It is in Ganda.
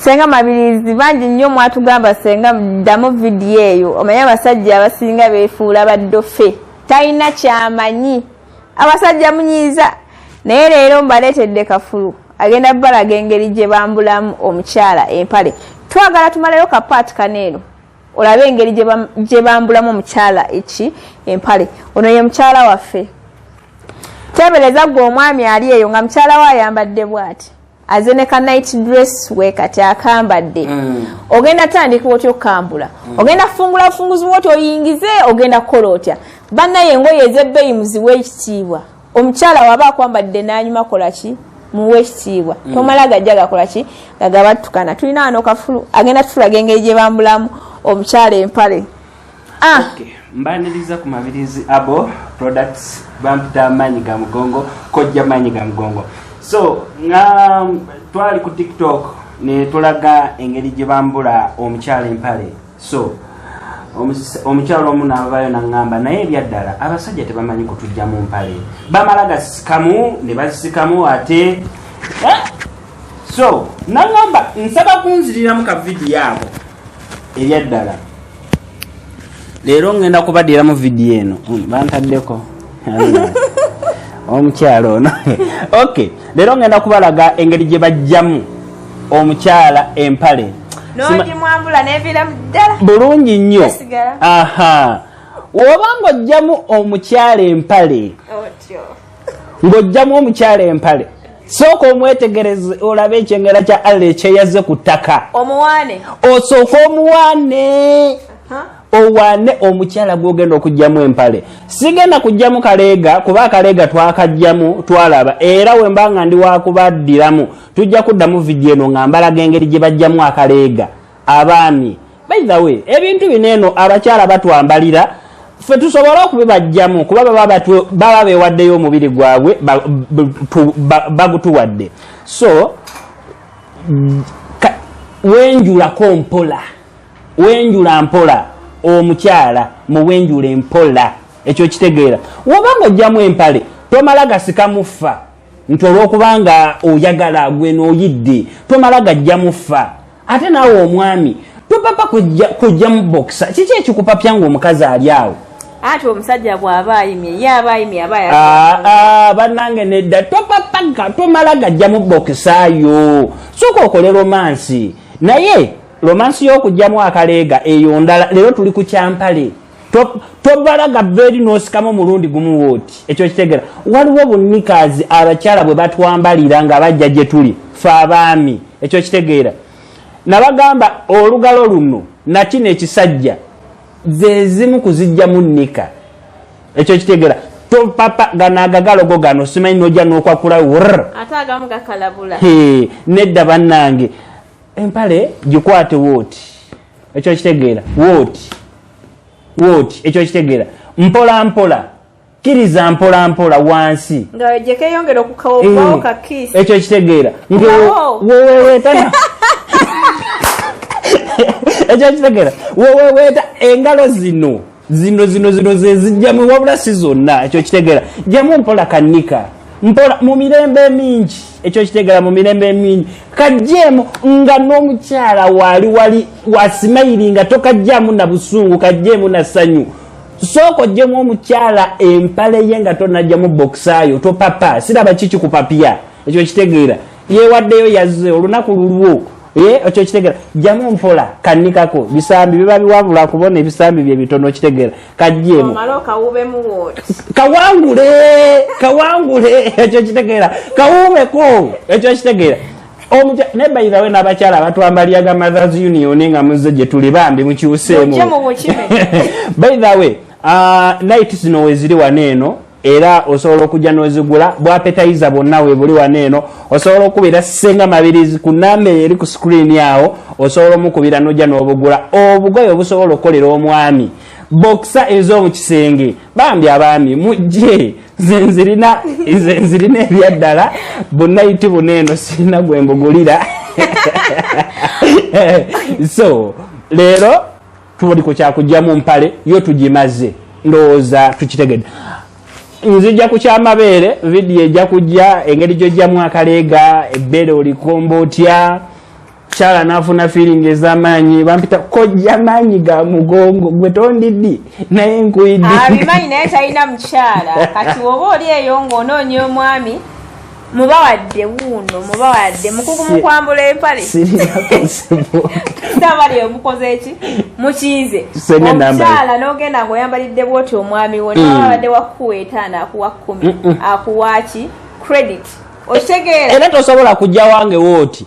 senga mabirizi bangi nnyo mwatugamba senga ddamu vidiyo eyo omanye abasajja abasinga befuula baddofe talina kyamanyi abasajja munyiiza naye leero mbaleetedde kafulu agenda balaga engeri gye bambulamu omukyala empale twagala tumalayo kapaati kano eno olabe engeri gye bambulamu omukyala eki empale ono ye mukyala waffe teebereza gwe omwami ali eyo nga mukyala we ayambadde bwati aze ne ka night dress we kati akambadde mm. ogenda tandika otya okukambula mm. ogenda fungula bufunguzi bwoti oyingize ogenda kukola otya bannaye engoye ezebbeeyi muziwa ekitiibwa omukyala waba akwambadde nanyuma kola ki muwa ekitiibwa mm. tomala gajja gakola ki nga gabattukana tulina wano kafulu agenda tutulaga engeri gye bambulamu omukyala empale Ah. Okay. mbaniriza ku mabirizi abo products bampita amaanyi ga mugongo kojja maanyi ga mugongo so nga um, twali ku tiktok ne tulaga engeri gye bambula omukyala empale so omukyala omu navayo naŋŋamba naye ebyaddala abasajja tebamanyi kutujja mu mpale bamala gasikamu ne bazisikamu ate eh? so nagamba nsaba kunziriramu ka vidiyo ako ebyaddala leero ngenda kubadiramu vidiyo eno hmm, bantaddeko omukyala ono ok leero ngenda kubalaga engeri gye bajjamu omukyala empale bulungi nnyo aha woba nga ojjamu omukyala empale ng'ojjamu omukyala empale sooka omwetegereze olabe ekyengera kya allah ekyeyazze ku ttaka omuwaane osooka omuwaane owaane omukyala gwogenda okugyamu empale sigenda kugyamu kaleega kuba akaleega twakagyamu twalaba era wemba nga ndi wakubaddiramu tujja kuddamu vidiyo eno nga mbalaga engeri gye bajjamu akaleega abaami by the way ebintu bino eno abakyala batwambalira fe tusobole okubibajjamu kuba baba baba bewaddeyo omubiri gwabwe bagutuwadde so wenjulako mpola wenjula mpola omukyala muwenjula empola ekyo kitegeera wobanga ojjamu empale tomala gasika muffa nti olwokuba nga oyagala gwe noyidde tomala gajja muffa ate naawe omwami topapa kujja mu bokisa kiki ekikupapya nga omukazi ali awo ati omusajja bwaba ayimye ye aba ayimye aba ah, ah, bannange nedda topapaka tomala gajja mu bokisa yo soka okole romansi naye romansi y'okugjamu akaleega eyo ndala leero tuli ku kyampale tobalaga beri nosikamu mulundi gumu woti ekyo kitegera waliwo bunikazi abakyala bwe batwambalira nga bajja gye tuli fe abaami ekyo kitegeera nabagamba olugalo luno nakino ekisajja zezimu kuzijjamu nika ekyo kitegeera topapa ganagagalogo gano simanyi noja nokwakula wr nedda bannange empale gikwate woti ekyo okitegeera wooti wooti ekyo okitegeera mpola mpola kiriza mpola mpola wansi eh, ekyo okitegeera ngewewetana ekyo okitegeera weweweta engalo zino zino zino zino zezijjamu wabula si zonna ekyo kitegera jamu mpola kanika mpola mu mirembe emingi ekyo kitegera mu mirembe emingi kajjeemu nga n'omukyala waali wali wasimayiri nga tokajjamu na busungu kajjeemu na ssanyu sooka ojjemu omukyala empale ye nga tonajjamu bokisaayo topapa siraba kiki kupapya ekyo kitegeera yewaddeyo yazze olunaku lulwo Eh, ekyo kitegera jamu mpola kanikako bisambi biba biwabula kubona ebisambi bye bitono kitegera kajjemu kawangule kawangule ekyo kitegera kawumeko ekyo kitegera ne by the way n'abakyala abatwambaliaga mothers union nga muzze gye tuli bambi mukyuseemu by the way uh, night zino weziri wano eno era osobola okujja nozigula bwapetayiza bwonna webuli wano eno osobola okukubira senga mabirizi ku namba eyo eri ku sikuriini awo osobola omukubira nojja nobugula obugoye obusobola okukolera omwami bokisa ez'omu kisenge bambi abaami mujje zenzirina zenzirina ebyaddala bunayiti buno eno sirina gwe mbugulira so leero tuli ku kyakujja mu mpale yo tugimaze ndowooza tukitegedde nzija ku kyamabeere vidiyo ejja kujja engeri gyojjamu akaleega ebbeere olikomba otya kyala nafuna fiiringi ezamaanyi bampita kojja maanyi ga mugongo gwe tondiddi naye nkuiddiabimanyi ah, naye talina mukyala kati woba oli eyo ngaonoonya omwami mubawadde wuuno mubawadde mukugu mukwambula empale sabali omukoze eki mukiize omukyala nogenda nga oyambalidde bwoti omwami wo mm. nababadde wakuwa etaano akuwa kkumi akuwaki credit okitegeera era tosobola kujja wange wooti